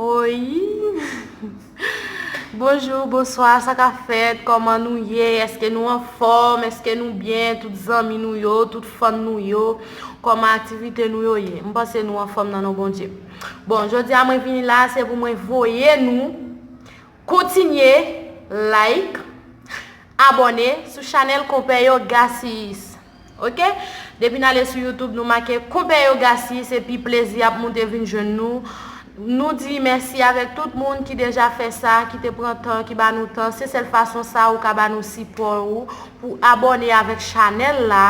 Oyy Bonjour bonswa sa ka fèt kòman nou ye eske nou anfòm eske nou byen tout zanmi nou yo tout fan nou yo kòman aktivite nou yo ye m panse nou anfòm nan non Bondye bon jodi a mwen vini la se pou mwen voye nou Kontinye like, abone sou chanel konpè yo Gasiyis ok. Depi n ale sou youtube nou make konpè yo Gasiyis epi plezi ap moute vin jwenn nou. Nou di mèsi avèk tout moun ki deja fè sa, ki te pran tan, ki ba nou tan. Se sèl fason sa ou ka ba nou sipò ou pou abone avèk chanel la,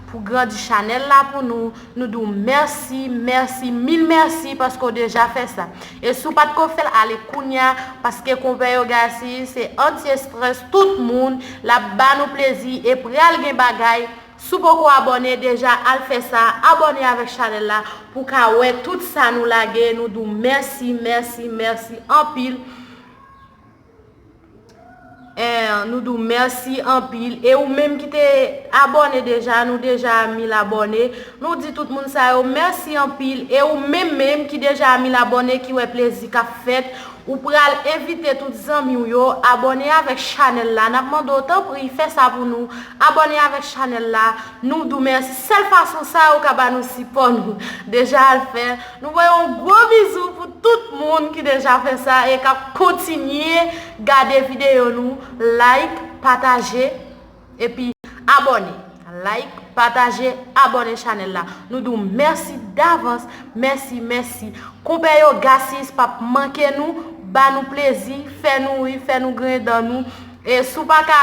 pou grandi chanel la pou nou. Nou di w mèsi, mèsi, mil mèsi paske w deja fè sa. E si w pa t ko fè l, ale kounya paske Konpè Yogasy se anti-estrès tout moun, l ap ba nou plezi e pral gen bagay. Si w poko abòne deja al fè sa, abòne avèk chanèl la pou w ka wè tout sa nou lage. Nou di w mèsi, mèsi, mèsi anpil. 1 nou di w mèsi anpil e ou menm ki te abòne deja nou deja a 1000 abòne nou di tout moun sa yo mèsi anpil e ou menm menm ki deja a 1000 abòne ki wè plezi k ap fèt ou pral envite tout zanmi w yo abòne avèk chanèl la n ap mande w tanpri fè sa pou nou abòne avèk chanèl la nou di w mèsi sèl fason sa ou ka ba nou sipò nou deja al fè. Nou voye yon gwo bizou pou tout moun ki deja fè sa e kap kontinye gade videyo nou like pataje epi abòne like pataje abòne chanèl la nou di w mèsi davans mèsi mèsi konpè yo gasis pap manke nou ba nou plezi fè nou ri fè nou griyen dan nou e si w paka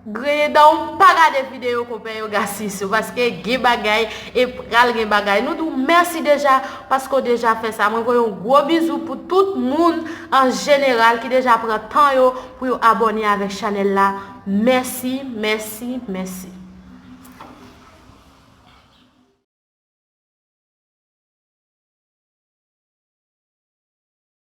Griyen dan w pa gade video konpè yo gasi sou paske gen bagay e pral gen bagay nou di w mèsi deja paske w deja fè sa mwen voye yon gwo bizou pou tout moun an jeneral ki deja pran tan yo pou yo abòne avèk chanèl la mèsi mèsi mèsi.